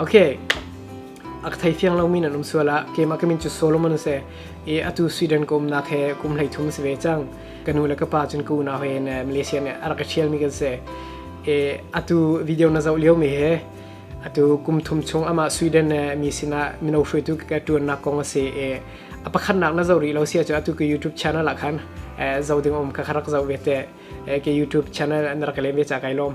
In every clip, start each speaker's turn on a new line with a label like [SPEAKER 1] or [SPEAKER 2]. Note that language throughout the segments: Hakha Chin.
[SPEAKER 1] Okay. A ka thei fiang lomi nan um suala keimah ka min cu Solomon se i atu Sweden ka umnak he kum hlei thum se ve cang ka nu le ka pa cun ka unau he in Malaysia nih a rak ka ṭhial mi kan se i atu video na zoh lio mi he atu kum thum chung amah Sweden mi sinah mino hruaitu ka ṭuannak kong a si i a pakhatnak na zoh rih lo sia cu atu ka YouTube channel ah khan zo ding um ka rak zoh ve te ke YouTube channel na rak le ve cha kai lom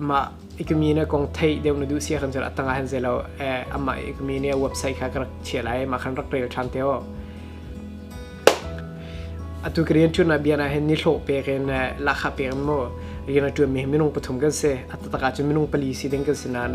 [SPEAKER 1] Mah i ka mi na kong theih deuh na duh si ahkhan cun a tang ahhin zei lo amah i ka mi nih a website kha ka rak chiah lai mah khan rak rel ṭhan te u. Atu ka rianṭuannak bian ahhin ni hlawh pek in lahkhah pek in mu rian a ṭuanmi hi minung pathum kan si. A taktak ahcun minung pali si ding kan si nain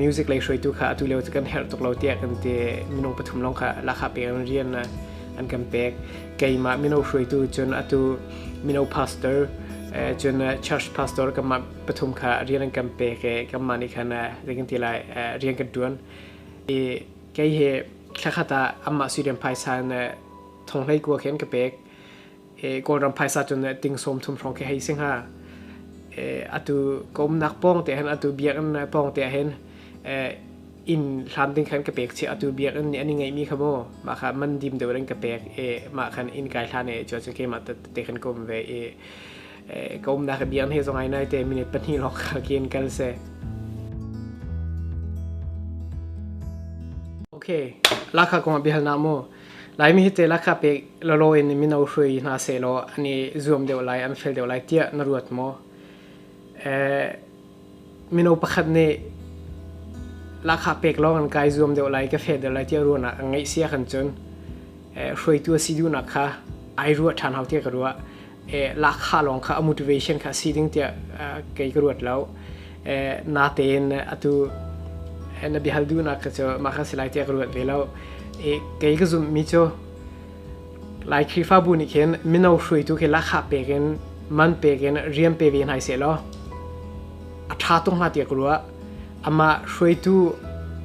[SPEAKER 1] music lei hruaitu kha atu lio cu kan herh tuk lo tiah kan ti. Minung pathum lawng kha lahkhah pek in rian an kan pek. keimah mino hruaitu cun atu mino pastor eh, cun eh, church pastor kanmah pathum kha rian an kan pek i kanmah nih khan zeikan ti lai rian kan tuan i kei he thlakhat ah amah sirian phaisan thong hlei kua khen ka pek e kawlram phaisa chun ting som thum hrong ke hei sing ha e atu kom nak pong te hen atu biak an pong te hen e in hlam ding khan ka pek che atu biakinn ni ani ngeimi kha mo ma kha man dim deuh rin ka pek e ma khan in kai hlan e chuan ke ma te khan kom ve e ka um da ka biakinn he zong ai nai te minute pahnih lok kha kien kal se okay lakha kong bihal na mo lai mi te lakha pe lolo in mi no hrui na se lo ani zuam deuh lai an fel deuh lai tia na ruat mo eh mino pakhat nih lahkhah pek lawng an kai zuam deuh lai ka feh deuh lai tiah ruahnak an ngeih sia kan cun eh, hruaitu a si duhnak kha ai ruah ṭhan hau tiah ka ruah eh, lahkhah lawng kha a motivation kha a si ding tiah eh, kei ka ruat lo eh, natein atu eh, na biahal duhnak kha cu mah kha si lai tiah ka ruat ve lo eh, kei ka zumhmi cu Lai Khrihfabu nih khin mino hruaitu khi lahkhah pek in, man pek in rian pe ve hna seh law a ṭha tuk hnga tiah ka ruah. Amah hruaitu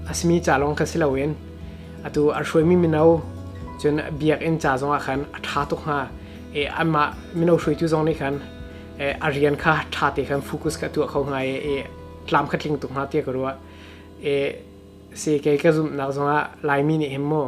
[SPEAKER 1] a simi ca lawng kha si loin atu an hruaimi mino cun biakinn ca zongah khan a ṭha tuk hnga i anmah mino hruaitu zong nih khan eh, a rian kha ṭha te khan focus kha tuah kho hnga i, i tlam kha tling tuk hnga tiah ka ruah. I si kei ka zumhnak zongah Laimi nih hin maw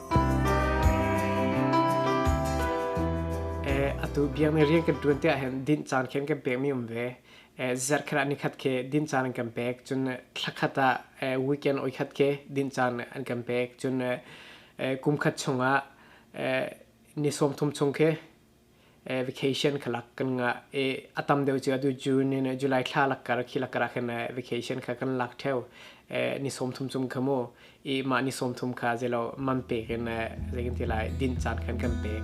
[SPEAKER 1] atu biang mi rian kan tuan te ahhin din caan khin kan pek mi um ve zarh khat ah nikhat ke din caan an kan pek cun thla khat ah weekend oi khat ke din caan an kan pek cun kum khat chung ah ni sawm thum chung ke eh, vacation kha lak kan ngah i a tam deuh cu atu June in eh, July thla lakkar khi lakkar ah khan eh, vacation kha kan lak theo eh, ni som thum cum kha mu i mah ni som thum kha zelo man pek in eh, zeikin ti lai din caan khan kan pek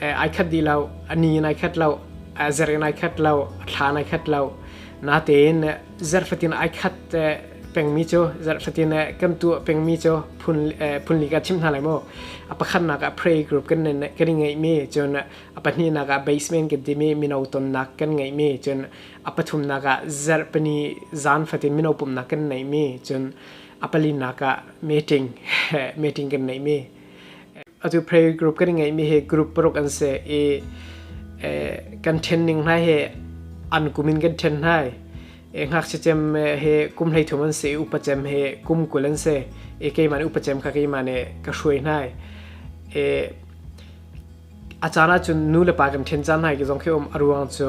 [SPEAKER 1] ai khat dih lo ani in ai khat lo zer in ai khat lo thla in ai khat lo natein zer fatin ai khat pengmi cu zer fatin kan tu pengmi cu phun phun li ka chim hna lai mu a pakhatnak ah pray group kan nen kan i ngeihmi cun a pahnihnak ah basement kan timi mino tonnak kan ngeihmi cun a pathumnak ah zer pani zan fatin mino pumnak kan neihmi cun a palinnak ah meeting meeting kan neihmi atu pray group kan ngei mi he group paruk an se i kan then ning hna he an kumin kan then hna e ngak se chem he kum hlei thum an se i upa chem he kum kul an se e ke man upa chem kha ke ma ne ka shuai hna e a cana chun nu le pa kan then chan hai ki zong ke om aruang chu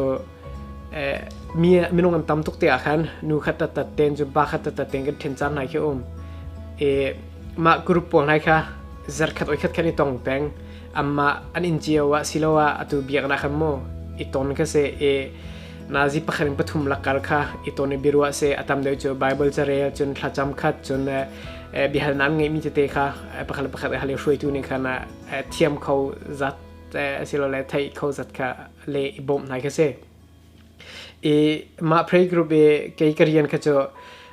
[SPEAKER 1] mi minung am tam tuk te ah khan nu khat ta tat ten chu ba khat ta tat ten kan then chan nai khi um e ma group pawl nai kha zar khat oi khat khan i tong peng amma an in chiao wa siloa atu biak na khan mo i ton ka se e na zi pakharin pathum lakar kha i ton e birwa se atam deu chu bible cha rel chun thla cham khat chun bihal nan ngai mi te te kha pakhal pakhat hale hruai tu ni khana thiam kho zat silo le thai kho zat kha le i bawm hna khi si i mah pray group i kei ka rian kha cu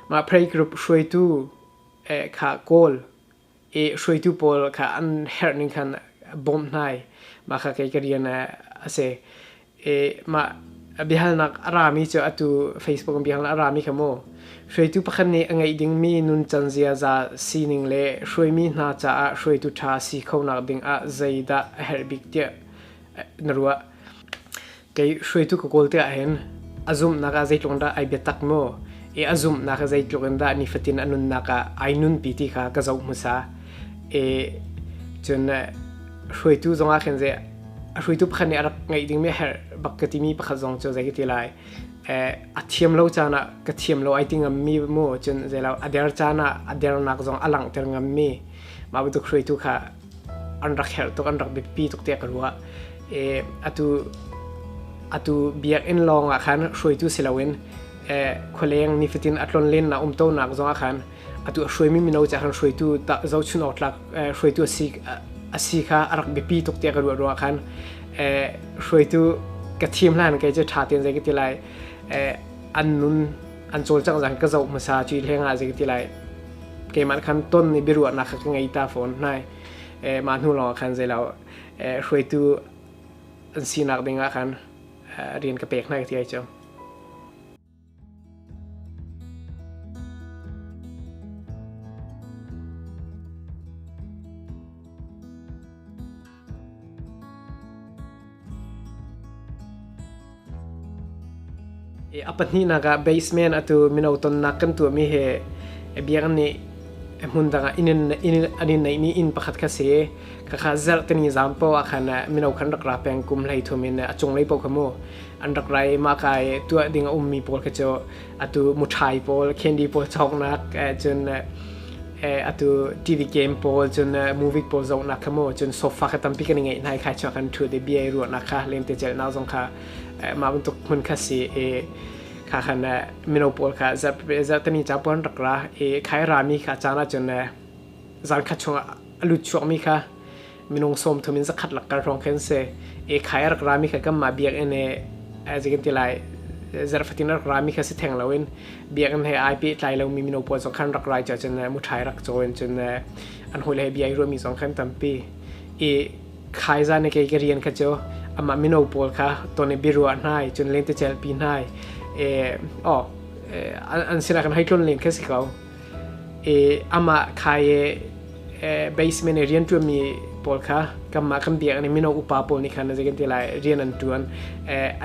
[SPEAKER 1] mah pray group hruaitu eh, kha kawl i hruaitu pawl kha an herh ning khan bawm hna i mah kha kei ka rian a si i mah bihalnak a rami cu atu facebook bihalnak a rami kha mu hruaitu pakhat nih a ngeih dingmi nuncan ziaza sining le hruaimi hna caah hruaitu ṭha si khonak ding ah zeidah a herh bik tiah na ruah kei hruaitu ka kawl te ahhin a zumhnak ah zeitluk in dah ai bia tak mu i a zumhnak ah zeitluk in dah nifatin a nunnak ah ai nunpi ti kha ka zoh hmasa i cun hruaitu zongah khin zei a hruaitu pakhat nih a rak ngeih dingmi herh bak ka timi pakhat zong cu zei ka ti lai a thiam lo caan ah ka thiam lo ai ti ngammi mu cun zei lo a der caan ah a dernak zong a langhter ngammi mah bantuk hruaitu kha an rak herh tuk an rak biapi tuk tiah ka ruah e atu atu biakinn lawng ah khan hruaitu si loin e khualeng nifatin a tlon len na um to nak zong ah khan atu a hruai mi mino cha khan hruaitu zochun awtlak hruaitu asi asi kha a rak biapi tuk tiah ka ruah ruah khan e hruaitu ka thim hlan kai che tha ten zai ka ti lai e an nun an col chang zang ka zo hmasa chi lenga zai ka ti lai keimah khan ton nih biaruahnak kha ka ngei ta fawn hnai mah hnu lawng khan zei lo hruaitu an sinak dingah khan rian ka pek hnai ka ti ai cang a pahnihnak ah basement atu mino tonnak kan tuahmi hi a biang nih hmun dangah inn an in neihmi inn pakhat kha si ka kha zelh tani zam po ah khan mino khan rak ra peng kum hlei thum in a cunglei po kha mu an rak ra i mah ka i tuah ding a ummi pawl kha cu atu muṭhai pawl candy pawl cawknak eh, cun eh, eh, atu TV game pawl cun eh, movie pawl zawknak kha maw cun sofa kha tampi kan i ngeih hna i khai chuak kan thu de bia i ruahnak kha lemte celhnak zong kha eh, mah bantuk hmun kha si i kha khan eh, mino pawl kha zarh zarh tami ca puan rak ra i khai rami kha caan ah cun eh, zan kha chung lut chuak mi kha minung som thum in zakhat lak kal hrawng khen se e khai rak rami kha kan mah biakinn e as you can tell I zarfatin rak rami kha si theng lo in biakinn he ai pe tlai lomi mino pawl zong khan rak rai cha cun muthai rak chawen cun an hoi le bia i ruami zong khan tampi i khai zan ke ke rian kha chu ama mino pawl kha ton e birua hnai cun len te chel pi hnai e o an sira kan haitlun len kha si ko i amah thai i basement i rian ṭuanmi pawl kha kanmah kan biak nih mino upa pawl nih khan zeikan ti lai rian an ṭuan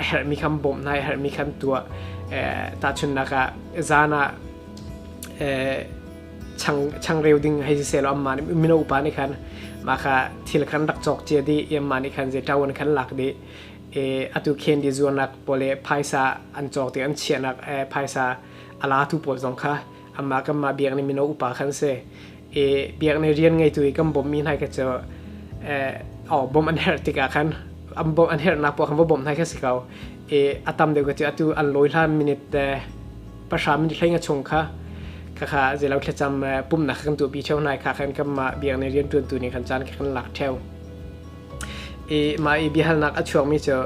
[SPEAKER 1] a herhmi kha an bawmh hna i a herhmi kha an tuah tahchunhnak ah zan ah chang changreu ding hei si sehlaw amah nih mino upa nih khan mah kha thil khan rak cawk cia dih i amah nih khan zei ṭawan khan lak dih i atu khen di zuarnak pawl i phaisa an cawk ti an chiahnak phaisa a latu pawl zong kha amma kanmah biak ni mino upa khan si i biak ni rian ngeitu i kan bawmmi hna ka cu o bom an her tikah khan an bom an hernak pawl khan va bom hna ka si ko i a tam deuh ka cu atu an lawi hlan minute pahra minute hleinga chung kha kha zelo thlacam pumnak kan tu pi cheu nai kha khan kanmah biak ni rian tuantu ni khan caan kan lak theo i mah i biahalnak a chuakmi cu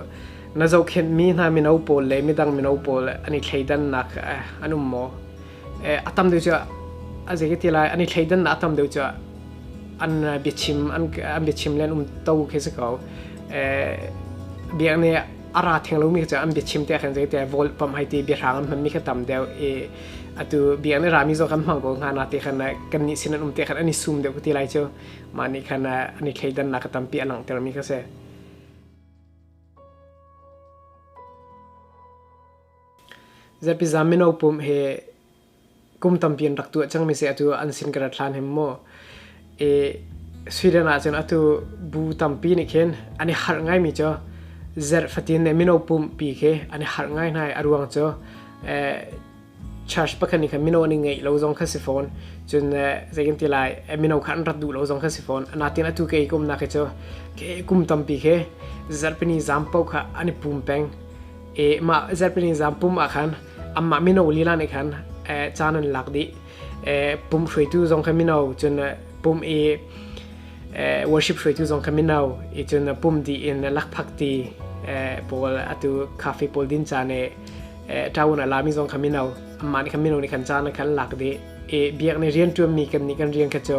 [SPEAKER 1] na zohkhenhmi hna mino pawl le midang mino pawl an i thleidannak an um maw? A tam deuh cu a zei ti lai an i thleidannak a tam deuh cu an biachim an biachim le an um to khi si ko. Biak nih a ra theng lomi cu an biachim te khan zei te vol pam hai ti biahrang an hmanmi kha tam deuh i atu biak nih rami zawk an hmang ko hnga na ti khan kan nih sin an um te khan an i sum deuh ka ti lai cu. mah nih khan an i thleidannak a tampi a langhtermi kha si zapiza mino pum he kum tampi an rak tuah cangmi se atu an sin kara thlan hem mu e Sweden ah cun atu bu tampi nih khin an i harh ngai mi cho zer fatin ne mino pum pi ke an i harh ngai nai a ruang cho eh church pakhat nih khan mino an i ngeih lo zong kha si fawn cun zei kan ti lai mino kha an rat duh lo zong kha si fawn natin atu ke i kumnak hi cu ke kum tampi khi zarhpini zam po kha an i pum peng e mah zarhpini zam pum ah khan amah mino lila nih khan caan an lak dih pum hruaitu zong kha mino cun pum i worship hruaitu zong kha mino i cun pum di in lakphak ti pawl atu cafe pawl din caan e tawun alami zong kha mino amah nih khan mino nih khan caan khan lak dih i biak ni rian ṭuanmi kan nih kan rian kha cu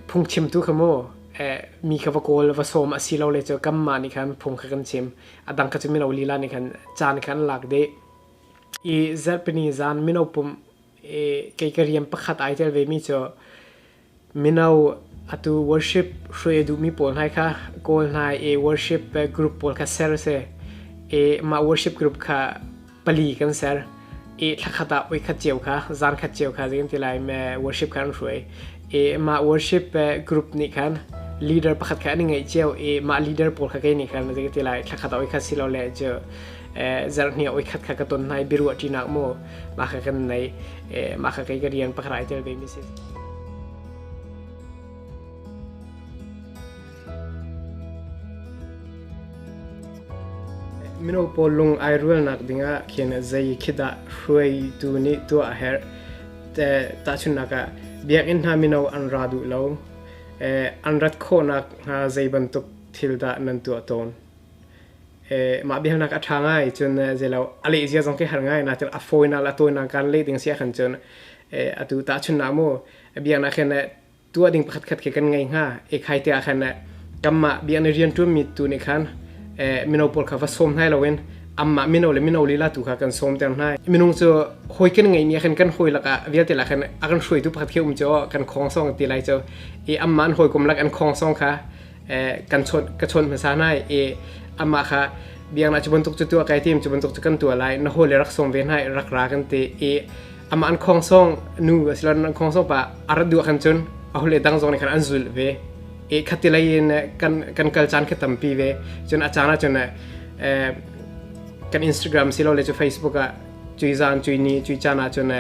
[SPEAKER 1] phungchim tu kha mu mi kha va kawl va sawm a si lo le cu kam ma nih khan phung kha kan chim a dang kha cu mino lila nih khan caan khan lak dih i zarhpini zan mino pum i kei ka rian pakhat ai tel ve mi cu Mino atu worship hruai a duhmi pawl hlai kha kawl hna i worship group pawl kha ser a si. I mah worship group kha pali kan ser. I thla khat ah voikhat cio kha, zan khat cio kha zei kan ti lai worship kha an hruai. I mah worship group nih khan leader pakhat kha an i ngeih cio i mah leader pawl kha kei nih khan zei ka ti lai thla khat ah voikhat silole cu zarhhnih ah voikhat kha ka ton hna i biaruah ṭinak maw, maka kan nei maka kai ka riang pakrai tel te ni si mino pawl lung ai rual nak dingah khen zai khida hruai tu ni tu a her te ta chunaka biak in na mino an ra du lo an rat kho nak nga zai bantuk thil da nan tu ton mah biaknak a ṭha ngai cun zeilo a leh zia zong khi har ngai na cun a fawinak le a tawinak kan leh ding si ahkhan cun atu tahchunhnak mu biaknak hin tuah ding pakhatkhat khi kan ngei hnga ekhai te ahkhan kanmah biaknak rianṭuanmi tu nih khan mino pawl kha va sawm hnai loin anmah mino le mino lila tu kha kan sawmter hna minung cu hawi kan ngeihmi ahkhan kan hawi lakah vialte lakhan a kan hruaitu pakhat khi um cu kan khawngsawng ti lai cu i anmah an hawikom lak an khawngsawng kha kan chawt ka chawt hmasa na e ama kha biang na chubun tuk chu tua kai tim chubun tuk chu kan tua lai na ho le rak song ve na rak ra kan te e ama an khong song nu asilon an khong song pa ar du kan chun a hole dang zong ni kan an zul ve e khatilai in kan kan kal chan khe tampi ve chun a chana chun kan instagram silo le chu facebook a chui zan chui ni chui chana chun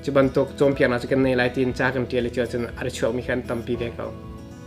[SPEAKER 1] chuban tok chom piana chu kan nei lai tin cha kan tiale chu chun ar chuak mi khan tampi ve ko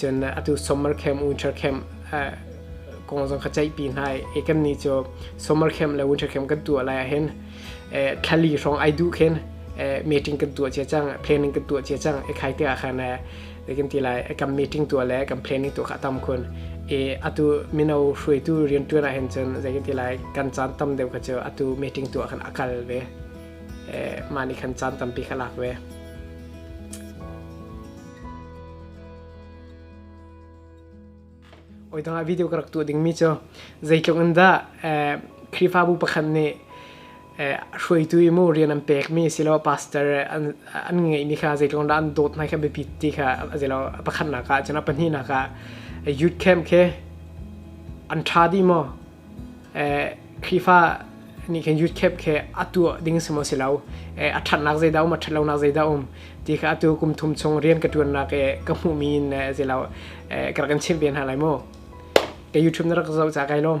[SPEAKER 1] cun atu summer camp winter camp kong zong kha ceihpi hna i kan ni cu summer camp le winter camp kan tuah lai ah hin thlali hrawng ai duh khin meeting kan tuah cia cang planning kan tuah cia cang i khai te ah khan kan ti lai kan meeting tuah le kan planning tuah kha tam khun i atu mino hruaitu riantuan ah hin cun zei kan ti lai kan caan tam deuh kha cu atu meeting tuah khan a kal ve mah nih khan caan tampi kha lak ve Oi dangah video ka rak tuah dingmi cu zeitluk in dah Khrihfabu pakhat nih hruaitu i maw rian an pekmi asiloah pastor an ngeih ni kha zeitluk in dah an dawt hna i kha biapi ti kha a si lo. A pakhatnak ah cun a pahnihnak ah youth camp khi an ṭha dih maw? Khrihfa nih khin youth camp khi atu ding si maw si lo a thatnak zeidah um a that lonak zeidah um ti kha atu kum thum chung rian ka tuannak i ka hmuhmi in si lo ka rak kan chimh ve hna lai maw ka YouTube na rak zoh ca kai lawm